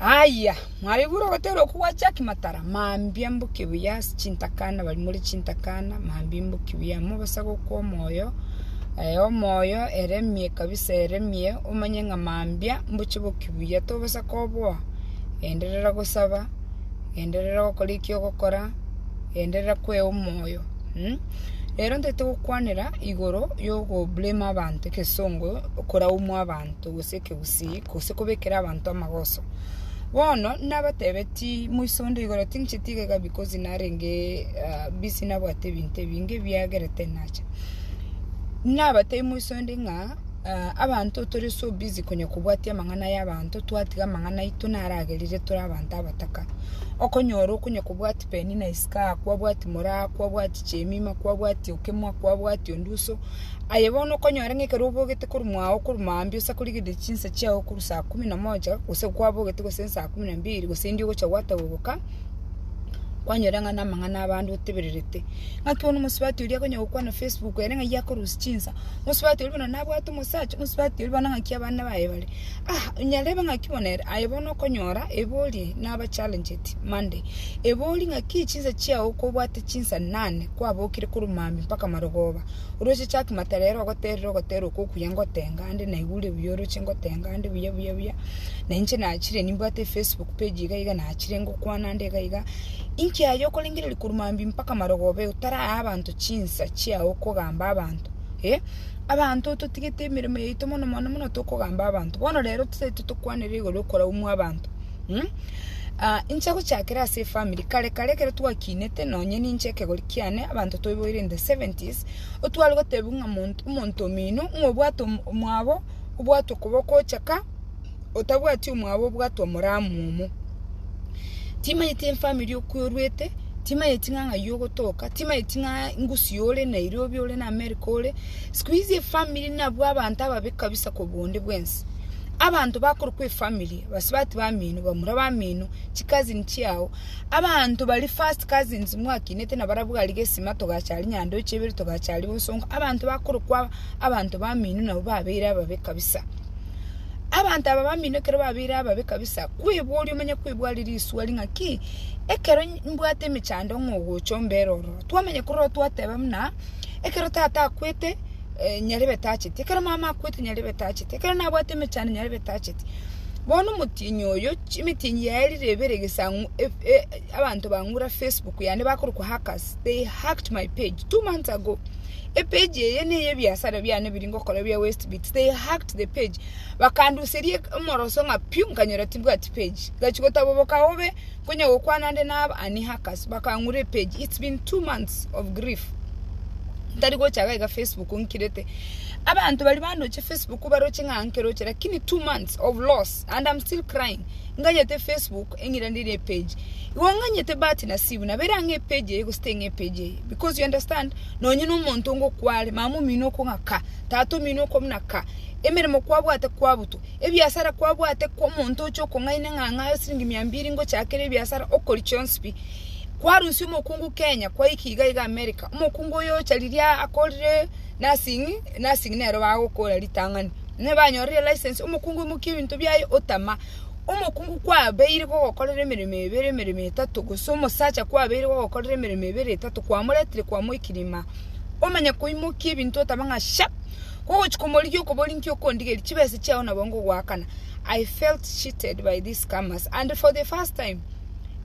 Aye, mwaigure ogoteera okwo gwa Jaki Matara, mambia mbo kibuya ase chintakana bari more chintakana, mambia mbo kibuya mobasabe okwo omoyo eh, omoyo eremie kabisa eremie, omanye ng'a mambia mboche bo kibuya tobasa koboa, enderera gosaba, enderera gokora eki ogokora, enderera kwea omoyo mm? Rero ntete gokwanera igoro yogo blame abanto ekesongo, okoraumwa abanto gose ekegusii gose kobekera abanto amagoso. Bono nabatebetie moiso onde igoro, tincheti iga iga because narenge ah, busy nabwate ebinto ebinge ebiagerete nacha. Nabatebi moiso onde ng'a ah, abanto tore so busy konya kobwatia amang'ana y'abanto, twatiga amang'ana aito naragerire tore abanto abataka. Okonyora okonya kobwati Penina isiko aa, kwabwati Moraa, kwabwati Chemima, kwabwati Okemwa, kwabwati Onduso, Aye bono okonyora ng'a ekero obogete korwa mwao korwa mambia osa korigereria chinsa chiao korwa saa kumi na moja, gose kwabogete gose saa kumi na mbiri, gose indio ogocha gwatagoboka, kwanyora ng'a namang'ana a bande otebererete. Ng'aki bono omosubati oria akonya gokwana facebook ere ng'ai akorusia chinsa, omosubati oria buna nabwate omosacha, omosubati oria buna ng'aki abana baye bare. Ah, nyarebe ng'aki bono ere, aye bono okonyora ebori naba challenged Monday, ebori ng'aki chinsa chiao kobwate chinsa nane, kwabokire korwa mambia mpaka marogoba. Oroche chaki matarero ogoterera ogoterera okwo okuya ngotenga ande naigure buya oroche ngotenga ande buya buya buya na inche nachire nimbwate efacebook page iga iga nachire ngokwana ande iga iga inki aye okorengereria korwa mambia mpaka marogobe otaraa abanto chinsa chiao okogamba abanto eh abanto ototigete emeremo yaito mono mono mono tokogamba abanto bono rero totaete tokwanera igoro yokoraumu abanto. Mh, ah, inche gochakera ase efamiri, kare kare ekero twakinete, nonye ninche ekegori kiane, abanto toiboire in the seventies, otware gotebiwa ng'a mont- omonto omino, ng'a obwate om- omwabo, obwate okoboko ochaka, otabwati omwabo obwate omoramu omo. Timanyeti efamiri okwo orwete, timanyeti ng'a ng'ai ogotoka, timanyeti ng'a ngusii ore Nairobi ore na America ore, sikuizi efamiri nabwo abanto ababe kabisa kobua onde bwensi. Abanto bakorokwa efamiri. basubati bamino bamura bamino chikazini chiao abanto bari first cousins mwakinete na barabwo gari gesima togachari nyandoche ibere togachari bosongo abanto bakorokwa abanto bamino nabo babere ababe kabisa abanto aba bamino ekero babere ababe kabisa kwebori omenye kwebwari riswari ng'a ki ekero mbwate emechando ng'a ogocha ombere ororo twamanya korora twateba muna Ekero tata akwete, eh, nyarebe tacheti, ekero mama akwete nyarebe tacheti, ekero nabwate emechando nyarebe tacheti. Bono omotienyi oyo, chi- emetienyi yaye rire ebere egesang'u- ef- e- abanto bang'ura facebook yane bakorokwa hackers, they hacked my page two months ago, epage eye neye ebiasara biane biri ngokora bia westbits, they hacked the page, bakanduseria omoroso ng'a piu, nkanyora tibwati page, ngachi gotaboboka bobe. Konya gokwana ande na aba Annie Hackers bakang'ura epage it's been two months of grief ntari gocha iga Facebook nkirete abanto bari bandoche Facebook baroche ng'a nkeroche lakini two months of loss and I'm still crying nganyete Facebook eng'ira ndiri epage igo nganyete bahati nasibu nabere ang'e epage eye gose teng'e epage eye because you understand nonye na omonto ngokware mama omino okong'a ka tata omino okomuna ka emeremo kwabwate kwabutwa Ebiasara kwabwate kw'omonto oche okong'aina eng'ang'a ya siringi mia mbiri ngochakera ebiasara okori chionsi pi? Kwarusia omokungu Kenya kwaika iga iga America. Omokungu oyo ocha riria akorire nursing, nursing nero bagokora ritang'ani. Nigo banyorire license, omokungu imokia ebinto biaye otama. Omokungu kwabeire gogokorera emeremo ebere emeremo etato gose omosacha kwabeire gogokorera emeremo ebere etato kwamoretire kwamoikiri ime. Omanye koimokia ebinto otama ng'a sha! Kogochia komorigia okoborinki okondigeria chibesa chiao na boongo goakana, I felt cheated by these scammers and for the first time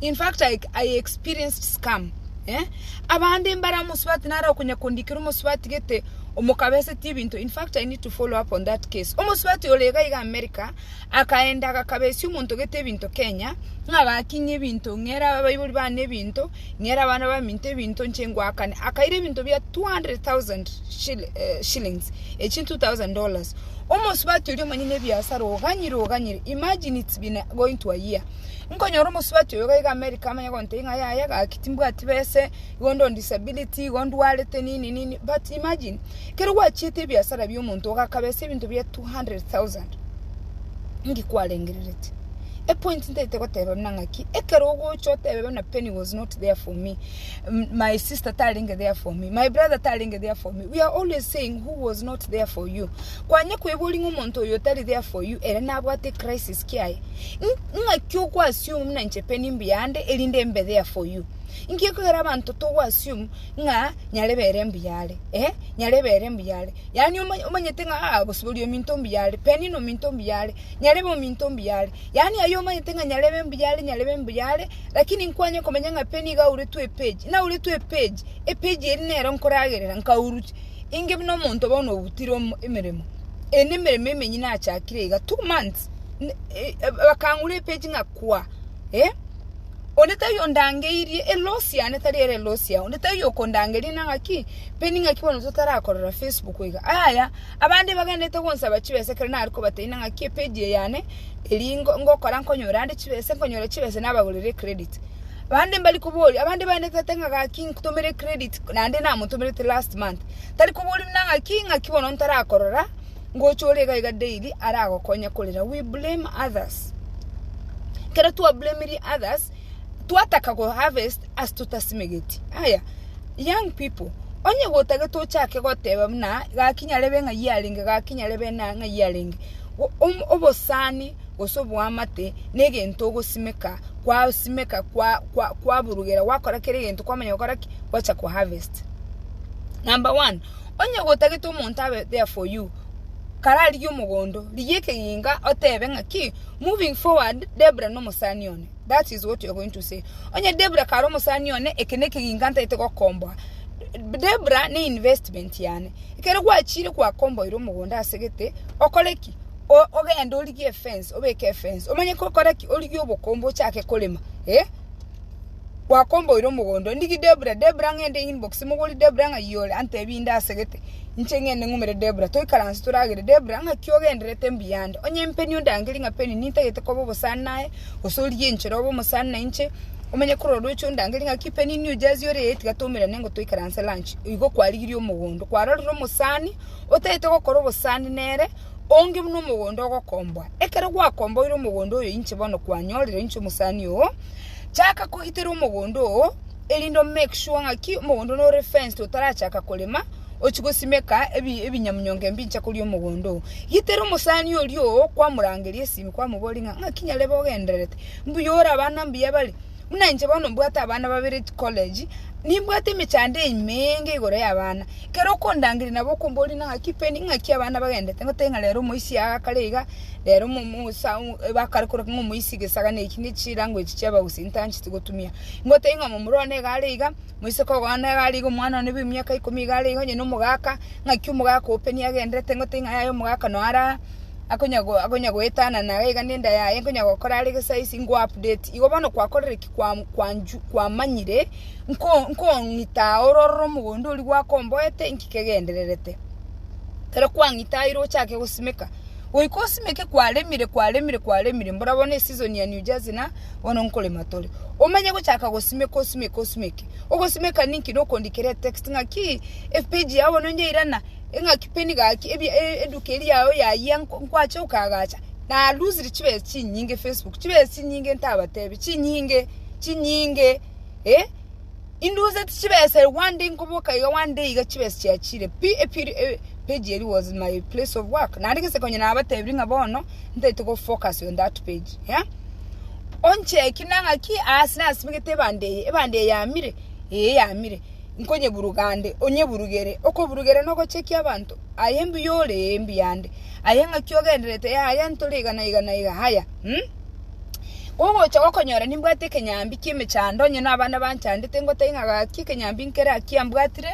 in fact I, I experienced scam eh? abande mbare omosubati nare okonya kondikera omosubati gete omokabeseti ebinto in fact I need to follow up on that case omosubati ore iga iga America akaenda agakabesia omonto gete ebinto Kenya ng'a agakinyia ebinto ng'era abaibori bane ebinto Ng'era abana baminto ebinto inche ngwakane. Akaira ebinto bia 200,000 shillings, echi 2,000 dollars. Omosubati oria omanyene ebiasara oganyire oganyire, imagine it's been going to a year. Nkonyora omosubati oyo iga iga America amanye gontebia ng'a yaya gaki timbwati bese, igondo on disability, igo ndwarete nini nini, but imagine, kero gwachiete ebiasara bia omonto ogakabesa ebinto bia 200,000, nki kwarengerereti? Epointi ntaete goteba buna ng'aki, ekero ogocha otebe buna Penny was not there for me, my sister tarenge there for me, my brother tarenge there for me, we are always saying who was not there for you. Kwanye kweboria ng'a omonto oyo otari there for you ere nabwate crisis kiaye. Ng'aki oko assume buna inche Penny mbuya ande erinde mbe there for you. Inki ekogera abanto togo assume ng'a nyare bere mbuya are, eh, nyare bere mbuya are. Yaani omanyete ng'a ah, bosibori ominto mbuya are, Penny nominto mbuya are. nyarebe ominto ombuya are. Yaani aye omanyete ng'a nyarebe embuya are, nyarebe embuya are, lakini nkwanye komenya ng'a pe nigo auretwe epage, nauretwe epage, epage eria nero nkoragerera nkaurut- inge buna omonto bono obutire omo emeremo, eye nemeremo emenye nachakire iga, two months, ne- e- e- bakang'ura epage ng'a kwa, eh, onde tari ondangeirie, eloss yane tari ere eloss yago, onde tari okondangeria nang'aki, pe ning'aki bono totarakorera facebook iga, yaya. Abande bagenderete gonsaba chibesa ekero nare kobateina ng'aki epeji eye yane eri ngokora nkonyora ande chibesa, nkonyora chibesa nabagorera ecredit. Bande mbari koboria, abande bagenderete goteba ng'a gaki ntomera ecredit naende namotomerete last month, tari koboria buna ng'aki ng'aki bono ntarakorora ngocha ore iga iga daily aragokonya korera, we blame others. Ekero twablamiri others, twataka koharvest ase totasimegeti. Aya. Young people, onye gotagete ochake goteba buna gaki nyarebe ng'ai arenge, gaki nyarebe na ng'ai arenge, o- om- obosani gose oboamate negento ogosimeka, kwasimeka kwa- kwa- kwaburugera gwakora kera egento kwamanya gokora ki? Gwacha ko harvest. Number one, onye gotagete omonto abe there for you, kara arigie omogondo, rigia ekegenga otebe ng'aki, moving forward Debra nomosani one. That is what you are going to say. Onye Debra kare omosani one, eke ne ekeginka ntaete gokomboa. Debra ne investment yane. Ekero gwachire gwakomboire omogonda ase gete, okore ki? O- ogende origie efence, obeke efence. Omanye kokora ki? Origie obokombe ochake korema. Eh? Gwakomboire omogondo. Ndigi Debra, Debra ng'ende inbox mogori Debra ng'a iyore antebi inde ase gete. Inche ng'ende ng'umere Debra. Toikaranse toragere Debra ng'aki ogenderete mbuya ande. Onye mpeni ondangerie ng'a peni nintagete koba obosani naye, Gose origie enchera obe omosani na inche, omenye korwa orooche ondangerie ng'aki Penny New Jersey ore ee, tiga toumerane nigo toikaranse lunch. Igo kwarigirie omogondo. Kwarorire omosani otagete gokora obosani nere, onge buna omogondo ogokomboa. Ekero gwakomboire omogondo oyo inche bono kwanyorire inche omosani oo, chaka kogitera omogondo oo, erinde o make sure ng'aki omogondo nore fenced otarachaka korema, ochie gosimeka ebinyamunyonga ebincha koria omogondo oo. Gitera omosani oria oo kwamorangeria esimi, kwamoboria ng'a, Ng'aki nyarebe ogendererete? Mbuya ore abana mbuya bare? Buna inche bono mbwate abana babere chikoleji, nimbwate emechando ime enge igoro y'abana. Ekero okondangeria nabo okomboria ng'a ng'aki peni, ng'aki abana bagendererete goteba ng'a rero omoisia aye agakare iga, rero bakare korokwa ng'a omoisia egesaga na eki, ne chirango echi chi'abagusii ntancheti gotumia. Ngotebi ng'a momura one iga are iga, Moiseke ogoana iga ariige omwana one bw'emiaka ikomi iga areiga onye nomogaaka, ng'aki omogaaka ope nigo agendererete ing'ote ing'a yaye omogaaka noo ara akonya go akonya goetanana iga iga nenda yaye nkonya gokora are gesize ingo update. Igo bono kwakorire ki kwa kwanchu kwamanyire nko nkong'ita aa ore ororo omogondo oria gwakomboete inki kegendererete. Ekero kwang'ita aa ere ochake gosimeka, goika osimeke kwaremire kwaremire kwaremire mbora bono eseason ya New Jersey na. Bono nkorema tore. Omanye gochaka gosimeka osimeke osimeke. Ogosimeka ninki? Nokondikera etext ng'aki epage yao bono nyairana eng'aki peni gaki ebia e- eduka eri yao yayia nko- nkwache okagacha naluzire chibesa chinyinge Facebook chibesa chinyinge ntabatebi chinyinge chinyinge eh. Induseti chibesa ere gwande inkoboka iga gwande iga chibesa chiachire pi epieri eh, page eri was my place of work naende gese konya nabatebiri ng'a bono ntaete go focus on that page yeah? oncheki nang'aki aase nasimegete ebande eye ebande eye yamire ee yamire nkonyeburuga ande onyeburugere okoburugera na ogochekia abanto aye mbuya ore ee mbuya ande aye ng'aki ogendererete yaya ntore iga na iga na iga haya mm? Gogocha gokonyora nimbwate ekenyambi ki'emechando onye nabana banchandete ngotebi ng'a gaki ekenyambi nkere ake ambwatire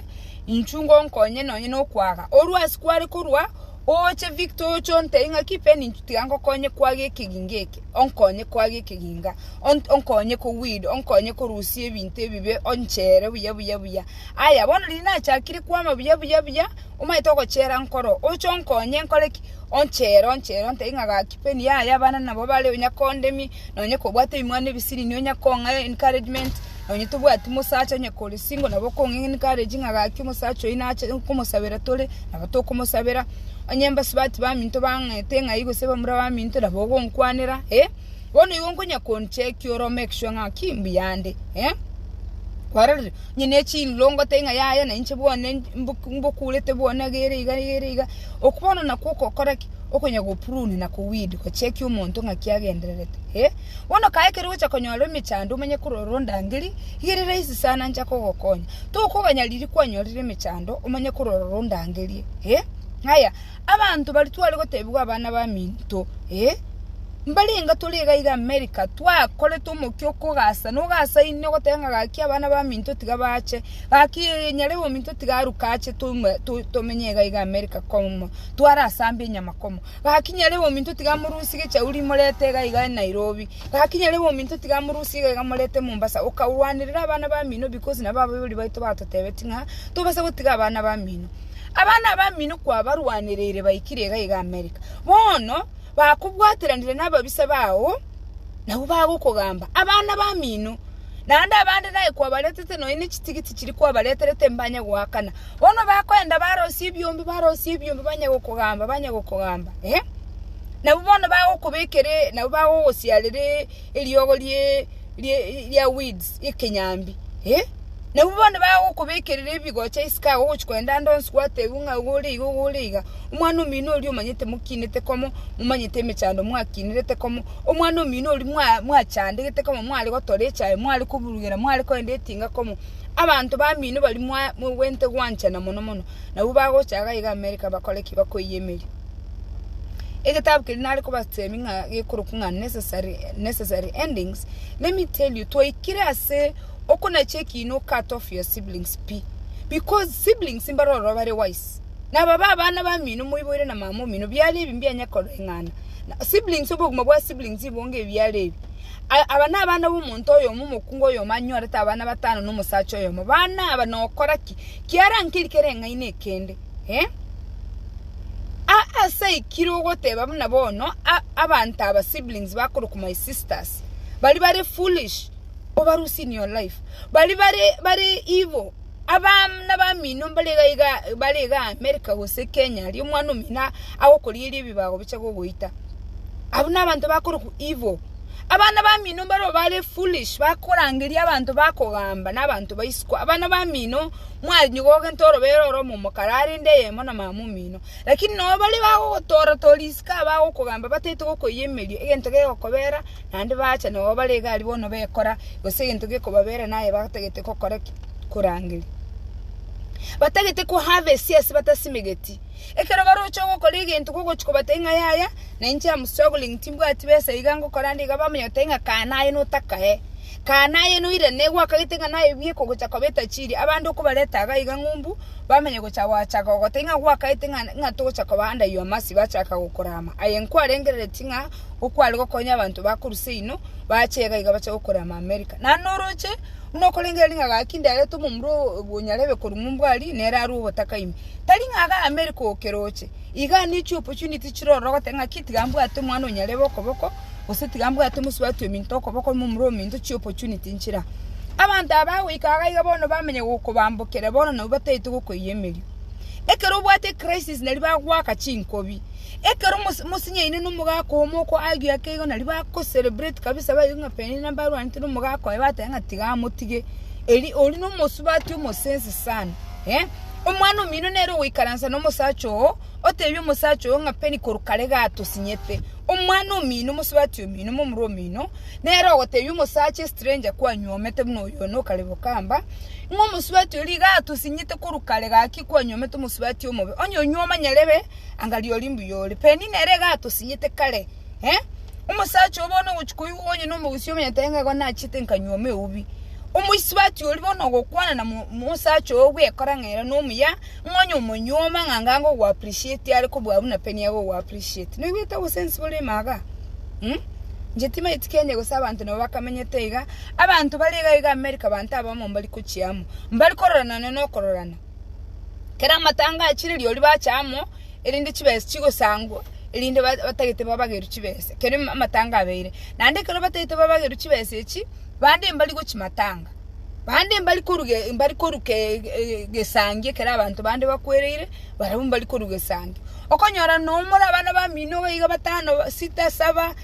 inchuo ngonkonye nonye nokwaga. Orwa ase kware korwa oche Victor oche ontebi ng'aki Ben inchuo tiga ngokonye kwaga ekeginga eke, onkonye kwaga ekeginga, ont- onkonye ko weed, onkonye korusia ebinto ebibe onchere buya buya buya. Aya bono riria nachakire kwama buya buya buya. Omaete ogochera nkoro, oche onkonye nkore ki? Onchere, onchere, ontebie ng'a gaki peni yaya, abana nabo bare, nonya kondemie, nonya kobwate ebimwana ebisiri, nonya kong'a encouragement, nonya tobwati mosacha onye kore single nabo okong'a encourage ng'a gaki omosacha oyi nache nkomosabera tore, nabo tokomosabera. Onye mbasubati baminto bang'ete ng'ai gose bamura baminto nabo ogonkwanera, eh, bono igo nkonya konchekia ore omake sure ng'aki mbuya nde, eh, kwarorire. Inche ne chinlongote ing'a yaye, na inche bwane mbokurete bwane iga ere iga, iga ere iga. Oko bono nakwo okokora ki? Okonya goprune na koweed, gochekia omonto ng'aki agendererete. Eh, bono kaa ekero ogocha konyora emechando omanye korora ondangeri, iga ere rahisi sana ncha kogokonya. Tokoganya riria kwanyorire emechando omanye korora ondangerie. Eh, ng'aya. Abanto baria tware gotebigwa abana baminto, ee, mbare enga tore iga iga Amerika, twakorete omokia okogasa na ogasaine ogoteba ng'a gaki abana baminto tiga bache, gaki nyare ominto tiga aruke ache toumwe tomenye iga iga Amerika komo, tware ase amba enyama komo, gaki nyare ominto tiga amorusie gechauri morete iga iga Nairobi, gaki nyare ominto tiga amorusie iga iga morete Mombasa, okarwanerera abana bamino because nabo ababori baito batotebetie ng'a tobasa gotiga abana bamino. Abana abamino kwabarwanereire baikire iga iga Amerika. Bono bakobwateranire nababisa bao nabwo bagokogamba. Abana bamino naende abande naye kwabaretete nonya ne chitigiti chiri kwabareterete mbanye goakana. Bono bakoenda barosie ebiombe barosie ebiombe banye gokogamba banye gokogamba eh. Nabwo bono bagokobekere nabwo bagogosiarere eriogo rie rie ria weeds ekenyambi eh. Nabu bono bagokobekerera ebigocha isiko agwo ogochia kogenda ande onsi gwatebiwa ng'a iga ore iga, iga ore iga. Omwana omino oria omanyete mokinete komo, momanyete emechando mwakinerete komo, omwana omino oria mwa- mwachandegete komo mware gotora echae, mware koburugera, mware kogenda etinga komo. Abanto bamino baria mwa- mogwente gwanchana mono mono, nabu bagocha iga iga America bakore ki? Bakoiyia emeria. Egetabu keria nare kobateebia ng'a gekorokwa ng'a necessary necessary endings, let me tell you, twaikire ase. Oko nache ekiino cut off your siblings pi because siblings mbare ororo bare wise naba ba abana bamino moiboire na mama omino biare ebi mbianye koreng'ana na siblings obogima bwa siblings ibonge ebi biare ebi A- aba na abana bomonto oyomo omokungu oyomo anyorete abana batano na omosacha oyomo bana aba nokora ki kiarankeri kere eng'aina ekende eh? A- ase aikire ogoteba buna bono a- abanto aba siblings bakorokwa my sisters bari bare foolish Over losing your life. Bari bare bare ibo abana bamino mbare iga iga bare iga America gose Kenya aria omwana omino agokorieria ebibago bicha gogoita. Abwo nabanto bakorokwa evil. Abana bamino mbaro bare foolish bakorangeria abanto bakogamba na abanto ba isiko. Abana bamino mwanyigo gento orobere oro omomo karare inde eyemo na mama omino. Lakini no bare bagogotora tori isiko abagokogamba batete gokoiyemeria egento gegokobera. Naende baacha nao bare egari bono bekora, gose egento gekobabeera naye batagete gokora ki? Korangeria. Batagete koharvest ase batasimegeti. Ekero baroche gokora egento gogochia kobatebia ng'a yaya, na inche am struggling timbwati besa iga ngokora ande iga bamanya goteba ng'a kaa naye notakae, kaa naye noirane gwakagete ng'a naye buya ekogocha koba etajiri. Abande okobareta iga iga ng'umbu, bamanya gocha gocha gogotebia ng'a gwakagete ng'a ng'a togocha koba under your mercy bachaka gokorama. Aye nkwarengereretie ng'a. okware gokonya abanto ba korwa seino bache iga iga bache gokorama America. Naende noroche buna okorengera ring'a gaki nderete omomura oo bwonyarebe korwa Mumbwari nere arue ogotaka ime. Tari ng'a iga America okeroche, iga ne chi opportunity chire ororo ogoteba ng'aki tiga mbwate omwana onyarebe okoboko, gose tiga mbwate omosubati ominto okoboko omomura ominto chi opportunity nchire aa. Abanto aba bagoika iga iga bono bamenya gokobambokera bono nabo bataete gokoiyia emerio. Ekero obwate ecrisis nari bagoaka chinkobi. Ekero mosinyaine nomogaka oo moko aigwe ake igo nario ba ko celebrate kabisa baigwe ng'a Penina mbarwanete nomogaka oye bateba ng'a tiga amotige eri oria nomosubati omosense sana eh omwana omino nere ogoikaransa nomosacha oo otebie omosacha oyo ng'a Peni korwa kare iga atosinyete omwana omino omosubati omino momura omino nere ogotebia omosacha estranger kwanyuomete buna oyo one okare bokamba ng'a omosubati oria iga atosinyete korwa kare gaki kwanyuomete omosubati omobe onye onyuo omanyerebe. Anga ri'oria mbuya ore. Penina ere iga atosinyete kare, eh, omosacha oo bono ogochia koigwa onye nomogusii omonyete aye ng'a igo nachete nkanywa ime eubi. Omoisubati oria bono ogokwana na mo mosacha oo bwekora ng'a ere nomuya, ng'a onye omonyuoma ng'a anga ango goappreciate are kobua buna Penina are gogoappreciate. Noigwete obosensi bore ime igaa? Mh, inche timanyeti Kenya gose abanto nabo bakamenyete iga, abanto bare iga iga America abanto abamo mbari kochia amo, mbari kororana nonya nokororana. Ekero amatanga achire rirorio ribache amo, erinde chibesa chigosangwa, erinde batagete babagerwe chibesa ekero amatanga abeire. Naende ekero batagete babagerwe chibesa echi, bande mbari gochia matanga, bande mbari koruga mbari koruga egesangi ekero abanto bande bakwereire, barabwo mbari koruga egesangi. Okonyora noyo more abana bamino iga batano, sita, saba.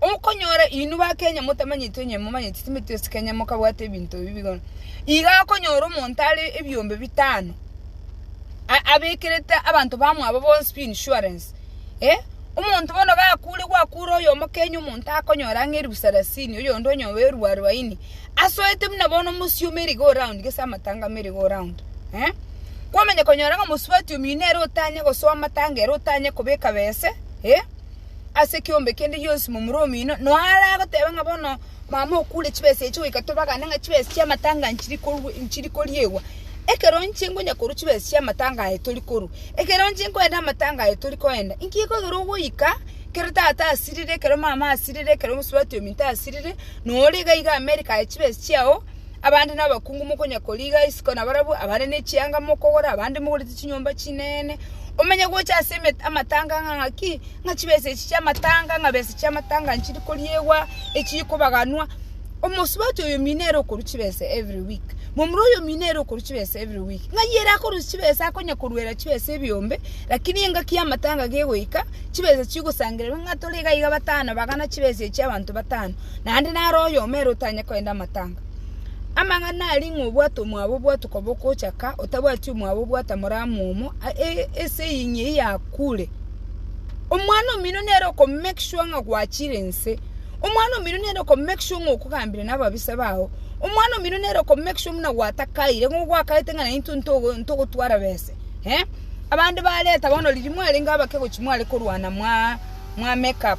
Okonyora inwe ba Kenya motamanyeti onye momanyeti timeti ase Kenya mokabwate ebinto ebi bigono iga okonyora omonto are ebiombe bitano abekerete abanto bamwabo bonsi pi insurance eh omonto bono gakure gwakure oyomo Kenya omonto akonyora ang'e eribu sarasini oyonde onye obe eribu arubaini asoete buna bono omosioma ere iga o round gese amatanga mere iga o round eh kwamanya konyora ng'a omosubati omino nere otanye gosoa amatanga ere otanye kobeka bese eh. ase ekeombe kende gionsi momura omino, nonya are agoteba ng'a bono mama okure chibesa echi goika tobagane ng'a chibesa chi'amatanga aya nchiri korwa nchiri koriegwa. Ekero inche nkonya korwa chibesa chi'amatanga aye tori korwa, ekero inche nkoenda amatanga aye tori koenda, inki gekogera ekero ogoika, ekero tata asirire, ekero mama asirire, ekero omosubati ominto asirire, nonya ore iga iga America aye chibesa chiago. Abande nabakungu mokonya koriga isiko na barabwo abande ne chianga mokogora abande mogorete chinyomba chinene omenye gocha ase amatanga ng'a ng'aki ng'a chibesa echi chiamatanga ng'a besa chiamatanga nchiri koriegwa echiri kobaganwa omosubati oyo mino ere okorwa chibesa every week momura oyo mino ere okorwa chibesa every week ng'a iye ere akorwa chibesa akonya korwera chibesa ebiombe lakini engaki yamatanga gegoika chibesa chigosangererwa ng'a tore iga iga batano bagana chibesa echi abanto batano. naende naro oyomo ere otanye koenda amatanga. Amang'ana aria ng'a obwate omwabo obwate okoba okochaka, otabwati omwabo obwate amore amomo, ase eye ng'a eyio akure. Omwana omino nere oko make sure ng'a gwachire nse, omwana omino nere oko make sure ng'a okogambire na ababisa bao, omwana omino nere oko make sure buna gwatakaire, ng'a ogwakaete ng'a naintwe ntogo ntogotwara bese, eh. Abande bareta bono riria mwarenge abake gochia mware korwana mwaa mwa make up.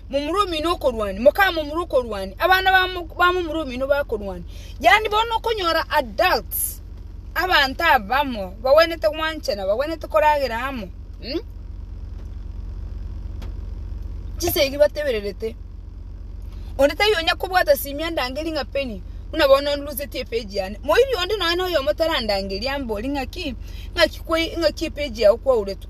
momura omino okorwania, moka momura okorwania, abana ba mo- ba momura omino bakorwania. Yaani bono okonyora adults, abanto abamo bagwenerete gwanchana, bagwenerete koragera amo mm? Chisegi batebererete, onde taiyo onya kobwata simia andangerie ng'a Penny, buna bono onluseti epage yane. Moiri onde nonya noyomo tarandangeria ambori ng'aki, ng'aki kwai ng'aki epage yago kwauretwe.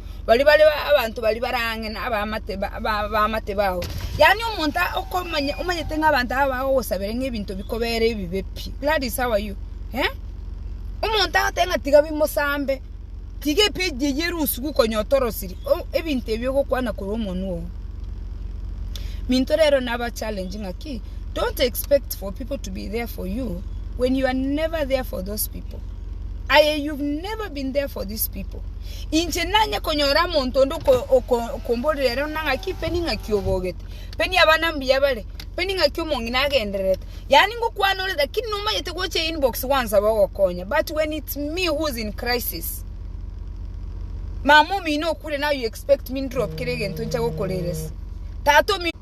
baria bare abanto baria bare ang'e na abaamate abaamate bao. Yaani omonto okomanya omanyete ng'a abanto aba bagogosabera ng'a ebinto bikobeere ebibe pi. That is how are you? Eh? Omonto agotebi ng'a tiga bimosambe, tiga epeji eyio erusiwu konya otorosiri, o- ebinto ebio ogokwana korwa omonwe oo. Minto rero nabachallenge ng'aki, don't expect for people to be there for you when you are never there for those people. Aye you've never been there for these people. Inche nanye konyora omonto onde okomborera ere ona ng'aki, pe ning'aki obogete, pe niabana mbuya bare, pe ning'aki omong'ina agendererete. Yaani ngokwana ore lakini nomanyete gocha einbox gwansabe ogokonya but when it's me who is in crisis, mama omino okure now you expect me ndrop kera egento ncha gokoreresa? Tata omino.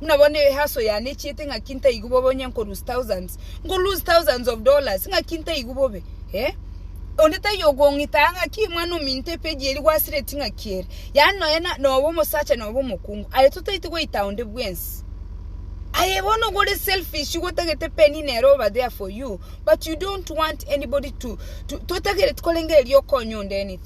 Buna bono ehaso yane echiete ng'aki ntaigu bobe onye nko lose thousands, nko lose thousands of dollars ng'aki ntaigu bobe eh. Onde taiyo okong'ita aa ng'aki mwana ominto epage eri gwasireti ng'aki ere. Yaani nonya na nobe omosacha nobe omokungu. Aye totaeti goita onde bwensi. Aye bono igo ore selfish igo otagete penny nere oba there for you but you don't want anybody to to totagereti korengereria okonye onde anything.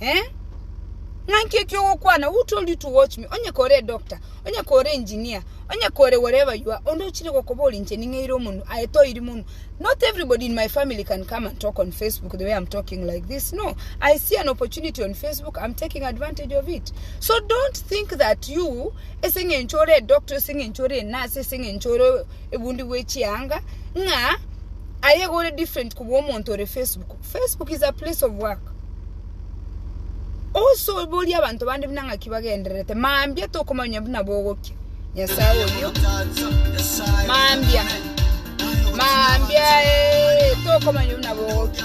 eh? Ng'anki eki ogokwana, who told you to watch me? Onye kore edoctor, onye kore engineer, onye kore wherever you are, onde ochire gokobora inche ning'eire omonwa, aye toiri monwa. Not everybody in my family can come and talk on Facebook the way I'm talking like this. No, I see an opportunity on Facebook, I'm taking advantage of it. So don't think that you, ase eng'encho ore edoctor, ase eng'encho ore enurse, ase eng'encho ore ebundi bw'echianga, ng'a aye iga ore different kobua omonto ore Facebook. Facebook is a place of work osoborie abanto bande buna ng'aki bagendererete mambia tokomanya buna bogokia nyasaye oyio mambia mambia eh, tokomanya buna bogokia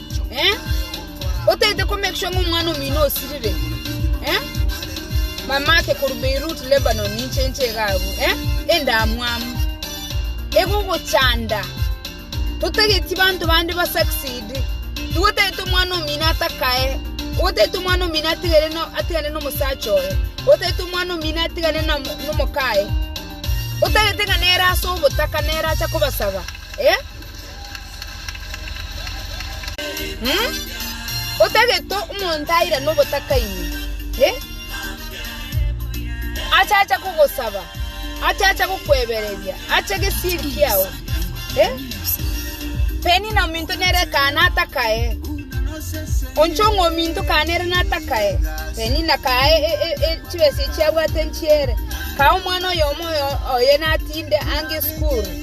otagete ko make sure ng'a omwana omino osirire, mamake korwa Beirut, Lebanon, inche inche iga agwo, endamwamu egogochanda. Totageti banto bande ba succeed, nigo otagete omwana omino atakae, nigo otagete omwana omino atigane no atigane no omosacha oye, otagete omwana omino atigane na omokaye, otagete ng'a nere ase obotaka nere acha kobasaba. Otagete omonto airane obotakaini, achacha kogosaba, achacha gokwebereria ache gesieri kiao. Penina ominto nere ekana atakae, oncha ng'a ominto kane ere natakae, penina kaa chibesa echio abwate nchiere, kaa omwana oyomo oye natinde ange esukuru.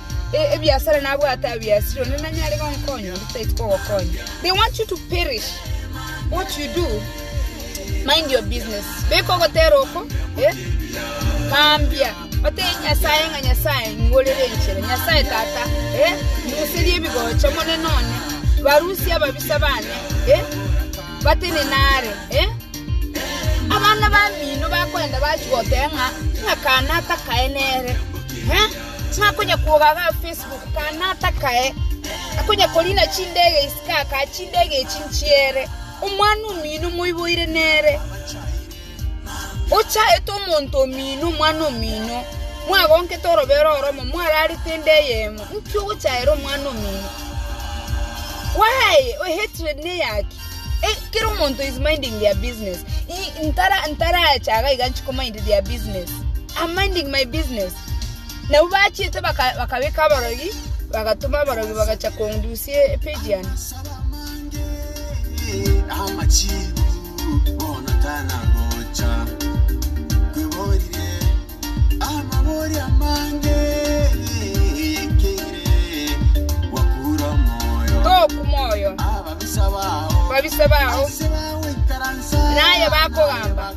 Ebiasara nabwate abia esiri, onde nanyare gonkonya, onde tari kogokonya. They want you to perish. What you do, mind your business. Beka ogotera oko, eh? Mambia, otebie Nyasaye ng'a Nyasaye nigo orere enchera. Nyasaye Tata, eh? Muserie ebigocha, Omonene one. Barusie ababisa bane, eh? Batenene are, eh? Abana bamino bakoenda bachia goteba ng'a ng'akana atakaene ere, eh? Tingakonyakuoga ga Facebook ka natakae, akonyakorina chindege isiko akae chindege echi nchiere. Omwana omino moiboire nere, ochaete omonto omino omwana omino, mwagonkete orobero oromo mwararete ende eyemo, inki ogochaera omwana omino? Why a hatred neyaki? Kera omonto is minding their business, ntaracha iga nchikomind their business, am minding my business. Nabo bachiete bakabeka aborogi, bagatoma aborogi bagacha kondusia epijiani. Toku moyo babisa bao, naye bakogamba.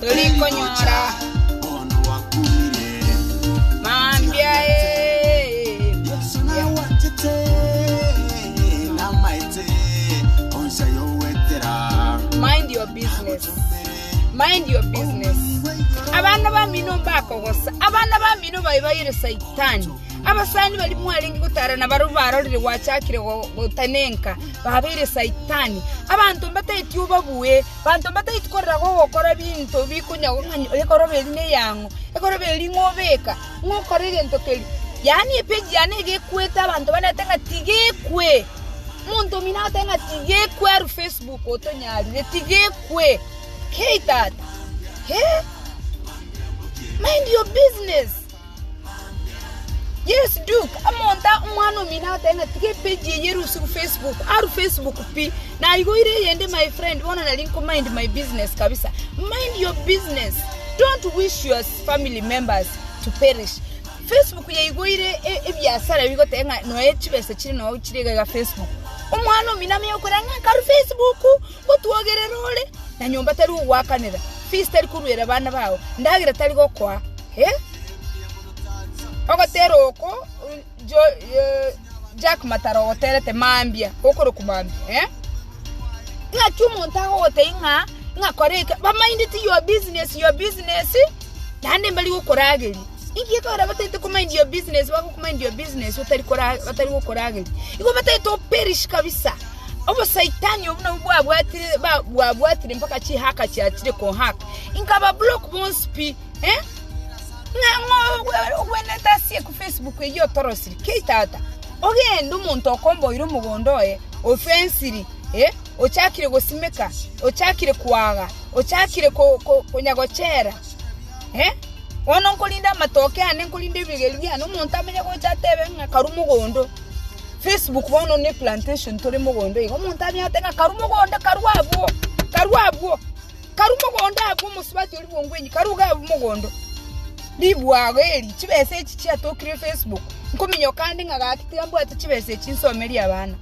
torikonyora mambia mind your business mind your business abana bamino mbakogosa abana bamino baye baire saitani abasani bari mwarenge gotara nabaria barorire gwachakire gotenenka babeire saitani abanto mbatageti obabue Banto mbataiti korera gogokora ebinto bikonyagwa ng'a ekoroba eri neyang'o, ekoroba eri ng'obeka, ng'okora egento keria. Yaani epeji yane iga ekwete abanto banerete ng'a tigekwe. Omonto omino agoteba ng'a tigekwe aru Facebook otonyarire, tigekwe. Kei tata, eh! Mind your business. Yes Duke, omonto omwana omino agotebi ng'a tiga epage eye erusu gu Facebook, aru Facebook pi, naigoire eyende my friend bono nari nko mind my business kabisa. Mind your business, don't wish your family members to perish. Facebook yaigoire e- ebiasara ebi gotebi ng'a noe chibesa chire nao chire iga iga Facebook. Omwana omino amenye gokora ng'a nkaru Facebook, Ngotwogerera ore, na nyomba tari gogoakanera, fees tari koruera bana bao, ndagera tari gokoa, eh? Ogotera oko jo, eh, Jack Matara ogoterete mambia, gokorokwa mambia, eh? Ng'aki omonto agogotebia ng'a ng'a kora eke, ba minded your business, your business, naende mbari gokorageria. Inki gekorera bataete komind your business? Bagokomind your business batari kora- batari gokorageria. Igo bataete operish kabisa. Obosaitani obwo nabwo bwabwatire ba- bwabwatire mpaka chihaka chiachire kohaka. Inkaba block bonsi pi. Eh? Ng'a- ng'o- ogwe- ogwenerete asie ku Facebook eyio otorosiri. Kei tata. Ogende omonto okomboire omogondo oye, ofensiri, eh, ochakire gosimeka, ochakire kwaga, ochakire ko- ko- konyagochera. Bono nkorinde amatoke aane, nkorinde ebigeri biane, omonto amenye gocha atebe ng'a karwa mogondo. Facebook bono ne plantation tore mogondo iga, omonto abia atebe ng'a karwa mogondo, karwa abwo, karwa abwo, karwa mogondo abwo, omosubati oria bwa ngwenyi karwa iga abwo mogondo. Ribwago eri, chibesa echi chiatokire Facebook, nkominyoka ande ng'a gaki tiga mbwate chibesa echi nsomerie abana,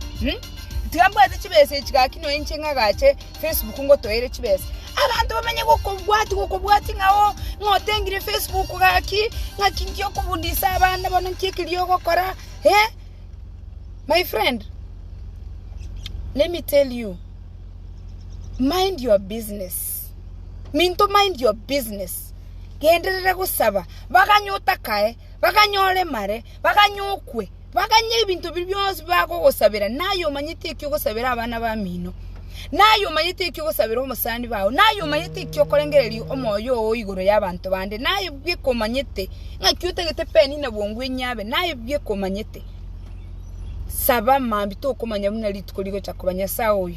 tiga mbwate chibesa echi gaki nonya inche ng'agache. Facebook ngotoeire chibesa. Abanto bamenye gokobwati gokobwati ng'a oo ng'a otengire Facebook gaki ng'aki nki okobudisa abande bono nki ekeria ogokora eh my friend let me tell you mind your business minto mind your business genderera gosaba baganye otakae baganye oremare. Baganyokwe, baganye ebinto biria bionsi bibagogosabera, na aye omanyete eki ogosabera abana bamino, na aye omanyete eki ogosabera omosani bao, na aye omanyete eki okorengereria omoyo oo igoro y'abanto bande, na aye bweka omanyete ng'aki otagete Penina bwongo enyia abe, na aye bweka omanyete. Saba mambia tokomanya buna rituko rigocha koba. Nyasae oyo.